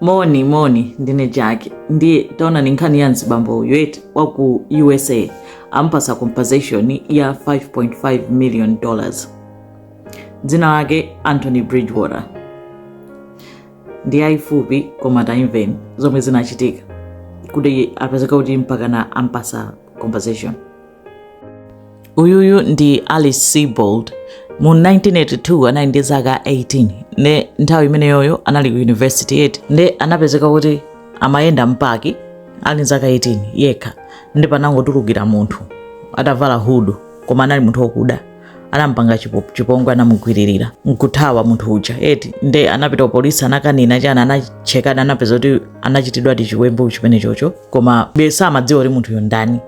moni moni ndine jaki nde taonani nkhani ya mzibambo uyu eti waku usa ampasa compensation ya 5.5 million dollars dzina lake anthony bridgewater ndi yayifupi koma taimveni zomwe zinachitika kuti apezeka kuti mpakana ampasa compensation uyuyu ndi alice seabold mu 1982 anali ndi zaka 18 ne nthawi imeneyoyo anali ku university eti nde anapezeka kuti amayenda mpaki ali zaka 18 yekha ndi panangotulukira munthu atavala hudu koma anali munthu wokuda anampanga chipo- chipongwe anamugwiririra nkuthawa munthu uja eti nde anapita ku polisi anakanena chani anachekana anapeza kuti anachitidwadi chiwembu chimenechocho koma besa amadziwa kuti munthuyo ndani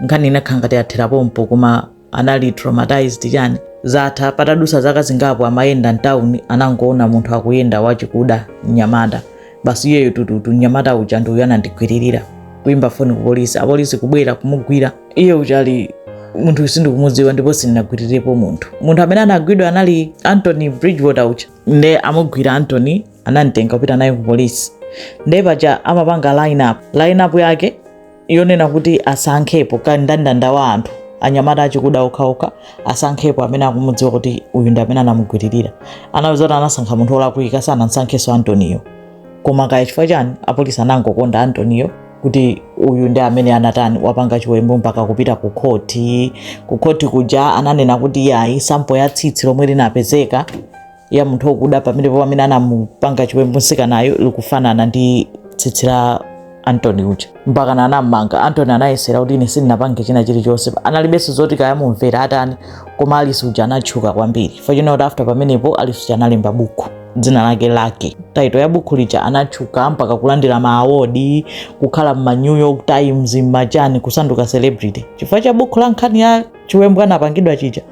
nkhani inakhala ngati yathera pompo koma anali traumatized chani zatha patadutsa zaka zingapo amayenda mtawuni anangoona munthu akuyenda wachikuda mnyamata basi iyeyo tututu mnyamata uja ndi uyu anandigwiririra kuyimba foni ku polisi apolisi kubwera kumugwira iye akuti munthu uyu sindikumudziwa ndipo sindinagwirirepo munthu munthu amene anagwidwa anali anthony bridgewater uja nde amugwira anthony anamtenga kupita naye ku polisi nde paja amapanga line up line up yake yonena kuti asankhepo kandandanda wa anthu anyamata achikuda okhaokha asankhepo amene akumudziwa kuti uyu ndi amene anamugwiririra anapeza kuti anasankha munthu olakwika sanamsankheso anthony yo koma kaya chifukwa chani apolisi anangokonda anthony yo kuti uyu ndi amene anatani wapanga chiwembu mpaka kupita ku khoti ku khoti kuja ananena kuti yayi sample ya tsitsi lomwe linapezeka ya munthu okuda pamenepo amene anamupanga chiwembu mtsikanayo likufanana ndi tsitsi la anthony uja mpakana anamanga anthony anayesera kuti ine sindinapange china chilichonse analibenso zoti kaya amumvera atani koma alice uja anatchuka kwambiri chifukwa china kuti after pamenepo alice uja analemba buku dzina lake lucky title ya buku lija anatchuka mpaka kulandira ma award kukhala mma new york times mmachani kusanduka celebrity chifukwa cha buku la nkhani ya chiwembu anapangidwa chija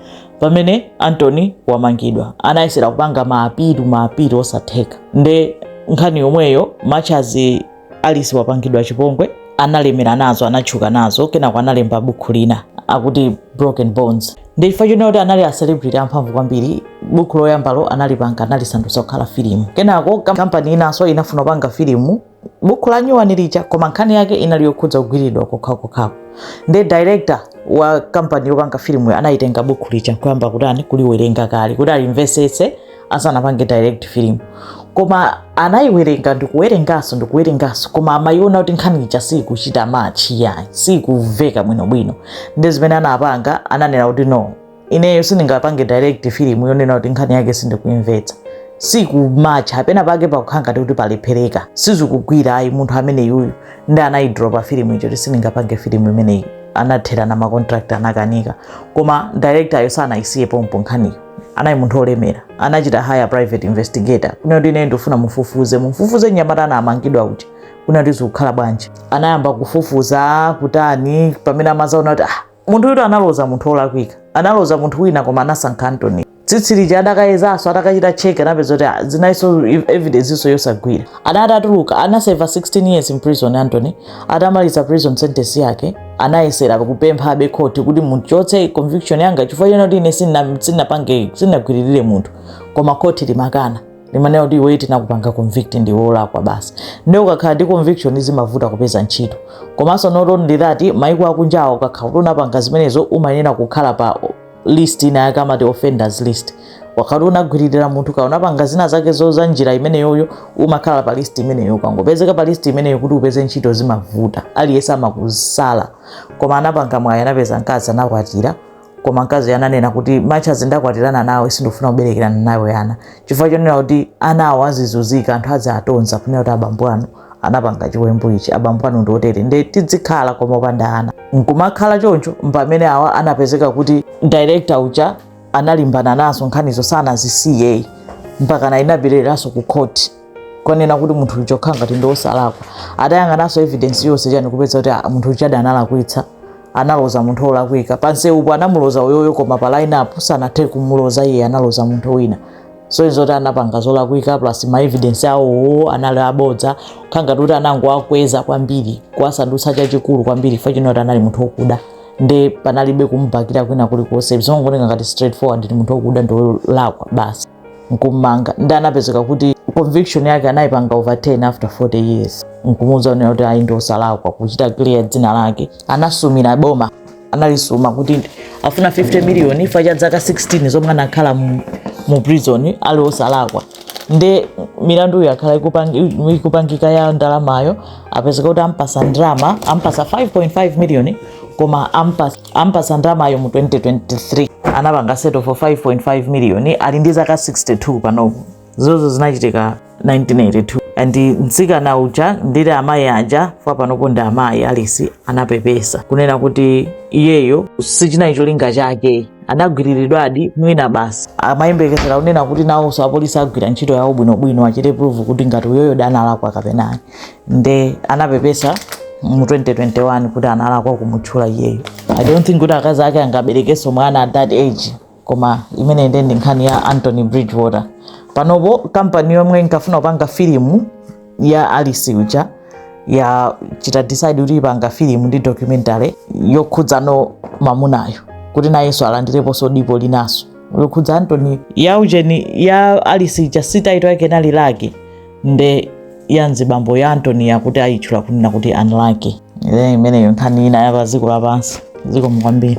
pamene anthony wamangidwa anayesera kupanga ma appeal ma appeal osatheka nde nkhani yomweyo machazi alice wapangidwa chipongwe analemera nazo anatchuka nazo kenako analemba bukhu lina akuti broken bones nde chifukwa chonena kuti anali acelebrity amphamvu kwambiri bukhu loyambalo analipanga analisandutsa kukhala filimu kenako kam- kampani inanso inafuna kupanga filimu buku la nyuwani lija koma nkhani yake inali yokhudza kugwiridwa kokhakokhako nde director wa kampani yopanga filimu anayitenga buku lija nkuyamba kutani kuliwerenga kale kuti alimvesese asanapange direct film koma anayiwerenga ndikuwerenganso ndikuwerenganso koma amayiona kuti nkhani ija siyikuchita match yayi siyikuveka bwinobwino nde zimene anapanga ananena kuti no ineyo sindingapange direct film yonena kuti nkhani yake sindikuimvetsa sikumatcha penapake pakukhala ngati kuti pakulephereka sizikugwira ayi munthu amene yuyu nde anayidropa filimu ija kuti sindingapange filimu imeneyi anatherana macontract anakanika koma directoryo sanayisiye pompo nkhaniyo anali munthu olemera anachita hire private investigator kunena kuti ineyo ndifuna mufufuze mufufuze mnyamata anamangidwa uja kunena kuti zikukhala bwanji anayamba kufufuza kutani pamene amadzaona kuti ah munthu uja analoza munthu olakwika analoza munthu wina koma anasankha Anthony tsitsi lija adakayezanso atakachita check anapeza kuti ah, inalinso evidencenso yosagwira anatuluka anaseva 16 years in prison Anthony atamaliza prison sentence yake anayesera kupemphabe khoti kuti muchotse conviction yanga chifukwa chonoti ine sinapange sinagwiririre munthu koma khoti limakana limanena kuti iweyo tinakupanga convict ndiwe wolakwa basi nde ukakhala ndi conviction zimavuta kupeza ntchito komanso not only that maiko akunjawo ukakhala kuti unapanga zimenezo umayenera kukhala pa list ina yake amati offenders list ukakhala unagwiririra munthu kaya unapanga zina zake za njira imeneyoyo umakhala pa list imeneyo ukangopezeka pa list imeneyo kuti upeze ntchito zimavuta aliyense amakusala koma anapanga mwayi anapeza mkazi anakwatira koma mkazi ananena kuti as much as ndakwatirana nawe sindifuna kuberekerana nawe ana chifukwa chonena kuti anawo azizunzika anthu adziwatonza kunena kuti abambo anu anapanga chiwembu ichi abambo anu ndi otere nde tidzikhala koma opanda ana nkumakhala choncho mpamene anapezeka kuti director uja analimbana nazo nkhanizo sanazisiye mpaka inabwereranso ku court kukanena kuti munthu uja akukhala ngati ndi osalakwa atayang'ananso evidence yonse chani kupeza kuti ah, munthu ujadi analakwitsa analoza munthu olakwika pamsewupo anamuloza uyoyo koma pa line up sanathe kumuloza iye analoza munthu wina so izo zoti anapanga zolakwika plus ma evidence awowo anali abodza kukhala ngati kuti anangowakweza kwambiri kuwasandutsa chachikulu kwambiri chifukwa chonoti anali munthu okuda nde panalibe kumubakila kwina kulikonse zongooneka ngati straightforward ndi munthu okuda ndi olakwa basi nkumumanga nde anapezeka kuti conviction yake anayipanga overturn after 40 years nkumuuza kunena kuti ayi ndiosalakwa kuchita clear dzina lake anasumira boma analisuma kuti afuna 50 million chifukwa cha zaka 16 zomwe anakhala mu, mu prison ali osalakwa nde milanduyo yakhala ikupangika ya ndalamayo apezeka kuti ampasa ndrama ampasa 5.5 million koma ampasa ampasa ndramayo mu 2023 anapanga settle for 5.5 miliyoni ali ndi zaka 62 panopo zozo zinachitika 1982 and mtsikana uja nditi amayi aja chifukwa panopo ndi amayi Alice anapepesa kunena kuti iyeyo sichinali cholinga chake anagwiriridwadi mwina basi amayembekezera kunena kuti nawonso apolisi agwira ntchito yawo bwinobwino achite prove kuti ngati uyoyodi analakwa kapena ayi nde anapepesa mu 2021 kuti analakwa kumutchula iyeyo i don't think kuti akazi ake angaberekenso mwana at that age koma imeneyo nde ndi nkhani ya anthony broadwater panopo kampani yomwe inkafuna kupanga filimu ya alice uja yachita decide kuti ipanga filimu ndi documentary yokhudza mamunayo kuti nayenso alandireponso dipo linalake yokhudza anthony ya ujeni ya alice uja title yake inali lucky nde ya mzibambo ya anthony yakuti ayitchula kunena kuti unlucky imeneyo nkhani ina ya pa dziko lapansi zikomo kwambiri